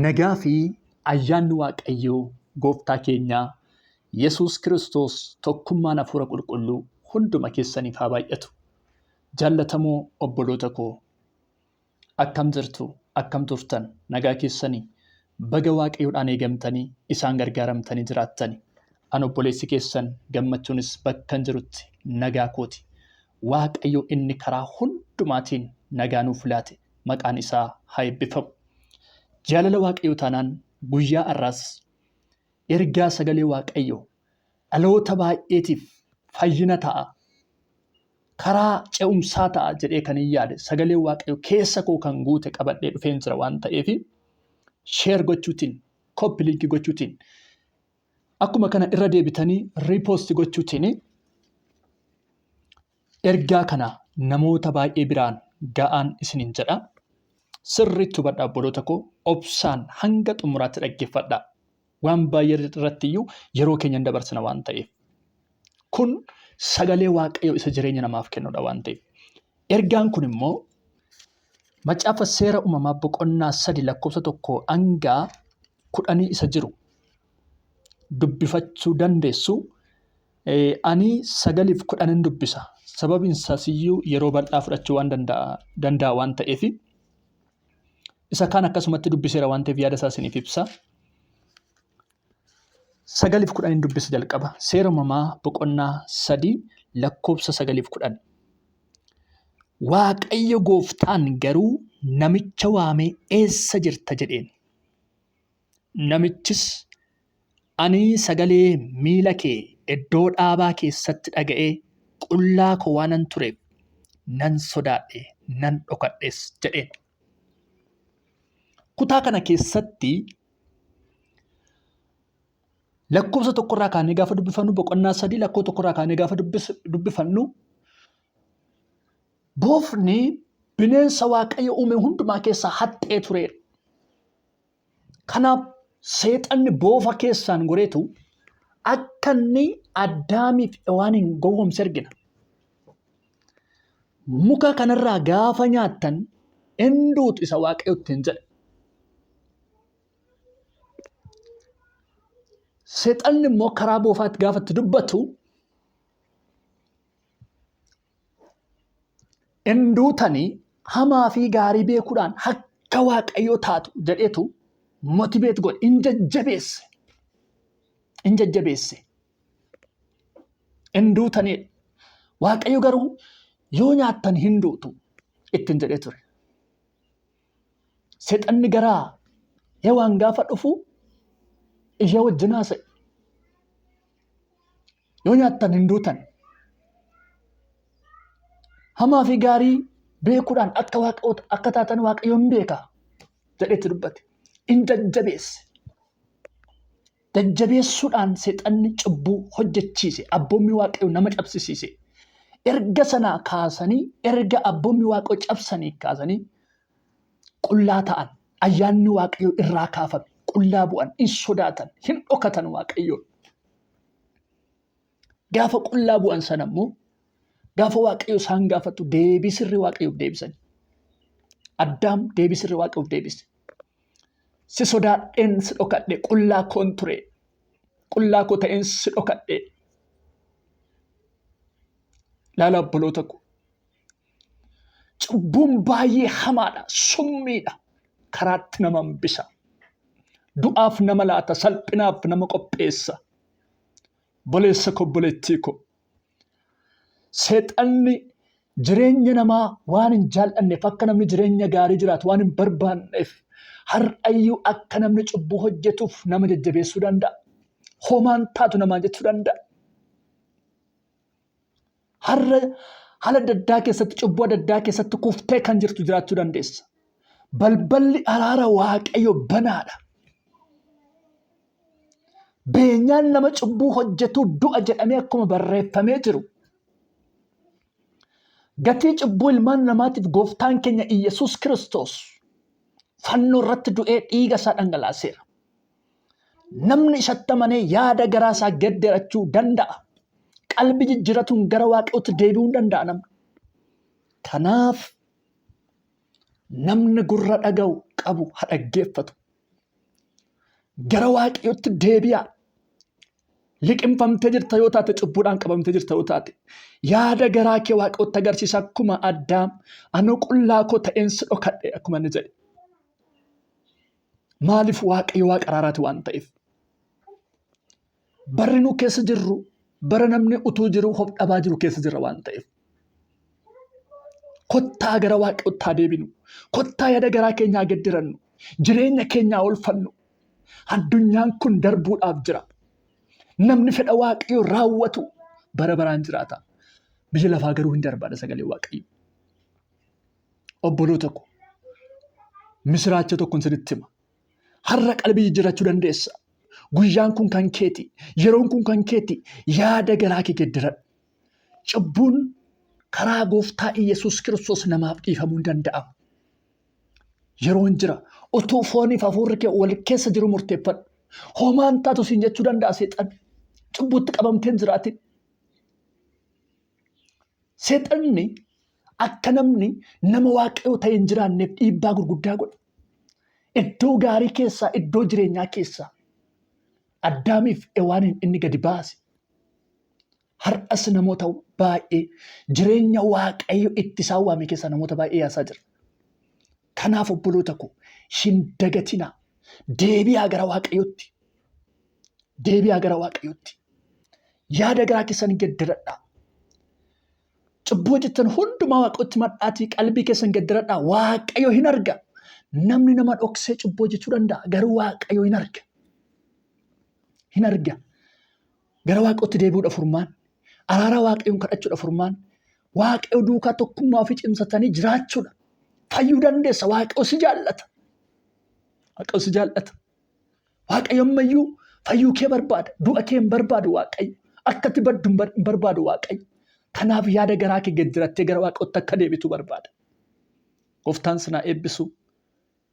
Nagaa fi ayyaanni Waaqayyoo gooftaa keenyaa Yesuus Kiristoos tokkummaan hafuura qulqulluu hunduma keessaniif haa baay'atu. Jaallatamoo obboloota koo akkam jirtu akkam turtan nagaa keessanii baga Waaqayyoodhaan eegamtanii isaan gargaaramtanii jiraattani. An obboleessi keessan gammachuunis bakkan jirutti nagaa kooti. Waaqayyo inni karaa hundumaatiin nagaa nuuf laate maqaan isaa haa eebbifamu. Jaalala Waaqayyoo taanaan guyyaa har'aas ergaa sagalee Waaqayyoo dhaloota baay'eetiif fayyina ta'a. Karaa ce'umsaa ta'a jedhee kan hin yaade sagalee Waaqayyoo keessa koo kan guute qabadhee dhufeen jira waan ta'eef sheer gochuutiin koppiliinkii gochuutiin akkuma kana irra deebitanii repost gochuutiin ergaa kana namoota baay'ee biraan ga'aan isiniin jedha sirriitti hubadha obboloota koo obsaan hanga xumuraatti dhaggeeffadha waan baay'ee irratti iyyuu yeroo keenya hin dabarsina waan ta'eef kun sagalee waaqayyoo isa jireenya namaaf kennudha waan ta'eef ergaan kun immoo macaafa seera uumamaa boqonnaa sadi lakkoofsa tokko hangaa kudhanii isa jiru dubbifachuu dandeessu. Ani sagaliif kudhanin dubbisa. Sababiin isaas iyyuu yeroo bal'aa fudhachuu waan danda'a waan ta'eef isa kaan akkasumatti dubbiseera waan ta'eef yaada isaa isiniif ibsa. Sagaliif kudhanin dubbisa jalqaba. Seera uumamaa boqonnaa sadii lakkoofsa sagaliif kudhan. Waaqayyo gooftaan garuu namicha waamee eessa jirta jedheen. Namichis, Ani sagalee miila kee iddoo dhaabaa keessatti dhaga'ee qullaa koo waanan tureef nan sodaadhe, nan dhokadhes jedheen. Kutaa kana keessatti lakkoofsa tokkorraa kaanee gaafa dubbifannu boqonnaa sadii lakkoo tokkorraa kaanee gaafa dubbifannu Boofni bineensa Waaqayyo uume hundumaa keessaa haxxee tureera. Kanaaf seexanni boofa keessaan goreetu akka inni Addaamiif Hewaaniin gowwoomse argina. Muka kanarraa gaafa nyaattan hin duutu isa Waaqayyo ittiin jedhe. Seexanni immoo karaa boofaatti gaafa itti dubbatu hin duutanii hamaa fi gaarii beekuudhaan akka waaqayyoo taatu jedheetu motibeet godhe hin jajjabeesse hin jajjabeesse hin duutaniidha waaqayyo garuu yoo nyaattan hin duutu ittiin jedhee ture seexanni garaa hewaan gaafa dhufu ishee wajjin haasa'e Yoo nyaattan hin duutan. Hamaa fi gaarii beekuudhaan akka waaqota akka taatan waaqayyoon beeka jedhetti dubbate. In jajjabeesse. Jajjabeessuudhaan seexanni cubbuu hojjechiise abboommii waaqayyoo nama cabsisiise. Erga sanaa kaasanii erga abboommii waaqayyoo cabsanii kaasanii qullaa ta'an ayyaanni waaqayyoo irraa kaafame qullaa bu'an hin sodaatan hin dhokatan waaqayyoon. Gaafa qullaa bu'an sana immoo gaafa waaqayyo isaan gaafatu deebii sirri waaqayyoof deebisan. Addaam deebii sirri waaqayyoof deebise. Si sodaadheen si dhokadhe qullaa koon ture qullaa koo ta'een si dhokadhe. Laala obboloota koo Cubbuun baay'ee hamaadha, summiidha, karaatti nama hambisa. Du'aaf nama laata, salphinaaf nama qopheessa. Boleessa koo, boleettii koo. Seexanni jireenya namaa waan hin jaal'anneef akka namni jireenya gaarii jiraatu waan hin barbaanneef har'ayyuu akka namni cubbuu hojjetuuf nama jajjabeessuu danda'a. Homaan taatu namaan jechuu danda'a. Har'a haala adda addaa keessatti cubbuu adda addaa keessatti kuftee kan jirtu jiraachuu dandeessa. Balballi araara waaqayyo banaadha. Beenyaan nama cubbuu hojjetuu du'a jedhamee akkuma barreeffamee jiru. Gatii cubbuu ilmaan namaatiif gooftaan keenya Iyyasuus Kiristoos fannoo irratti du'ee dhiiga isaa dhangalaaseera. Namni isatti amanee yaada garaa isaa gedderachuu danda'a. Qalbi jijjiratuun gara waaqayyootti deebi'uu danda'a namni. Kanaaf namni gurra dhaga'u qabu ha dhaggeeffatu. Gara waaqayyootti deebi'a. Liqimfamtee jirta yoo taate cubbuudhaan qabamtee jirta yoo taate yaada garaa kee waaqayyootti agarsiisa akkuma addaam anu qullaa koo ta'een si dhokadhe akkuma inni jedhe. Maaliif waaqayyo waaqa araaraati waan ta'eef. Barri nu keessa jirru bara namni utuu jiru of dhabaa jiru keessa jirra waan ta'eef. Kottaa gara waaqayyootti haa deebinu. Kottaa yaada garaa keenya haa gedderannu. Jireenya keenya haa olfannu. Addunyaan kun darbuudhaaf jira. Namni fedha waaqayyo raawwatu bara baraan jiraata. Biyya lafaa garuu hin darbaadha sagalee waaqayyo. obboloota koo misiraacha tokkon isinitti hima. Har'a qalbii jijjiirrachuu dandeessa. Guyyaan kun kan keeti. Yeroon kun kan keeti. Yaada garaa kee geddaradhu. Cubbuun karaa gooftaa Iyyasuus Kiristoos namaaf dhiifamuu hin danda'amu. Yeroon jira. Otuu fooniif hafuurri kee wal keessa jiru murteeffadhu. Homaan taatu siin jechuu danda'a seexan. Cubbuutti qabamteen jiraatin. Seexanni akka namni nama waaqayoo ta'e hin jiraanneef dhiibbaa gurguddaa godha. Iddoo gaarii keessaa, iddoo jireenyaa keessaa Addaamiif Ewaaniin inni gadi baase. Har'as namoota baay'ee jireenya waaqayyo itti isaan waame keessaa namoota baay'ee yaasaa jira. Kanaaf obboloota koo hin dagatinaa. Deebi'aa gara Waaqayyootti. Deebi'aa gara Waaqayyootti. Yaada garaa keessan geddaradhaa. Cubbuu hojjettan hundumaa Waaqayyootti madhaatii qalbii keessan geddaradhaa. Waaqayyo hin arga. Namni nama dhoksee cubbuu hojjechuu danda'a. Garuu Waaqayyo hin arga. Hin arga. Gara Waaqayyootti deebi'uudha furmaanni. Araara Waaqayyoon kadhachuudha furmaanni. Waaqayyo duukaa tokkummaa ofii cimsatanii jiraachuudha. Fayyuu dandeessa. Waaqayyo si jaallata. Waaqayyo si jaallata. Waaqayyo ammayyuu fayyuu kee barbaada. Du'a kee hin barbaadu Waaqayyo. Akkatti baddu hin bar- hin barbaadu Waaqayyo. Kanaaf yaada garaa kee gad dirattee gara Waaqayyootti akka deebitu barbaada. Gooftaan sinaa eebbisu.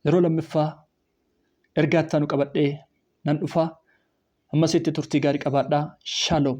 Yeroo lammiffaa Ergaa ittaanu qabadhee nan dhufa. Hammasitti turtii gaarii qabaadhaa. Shalom.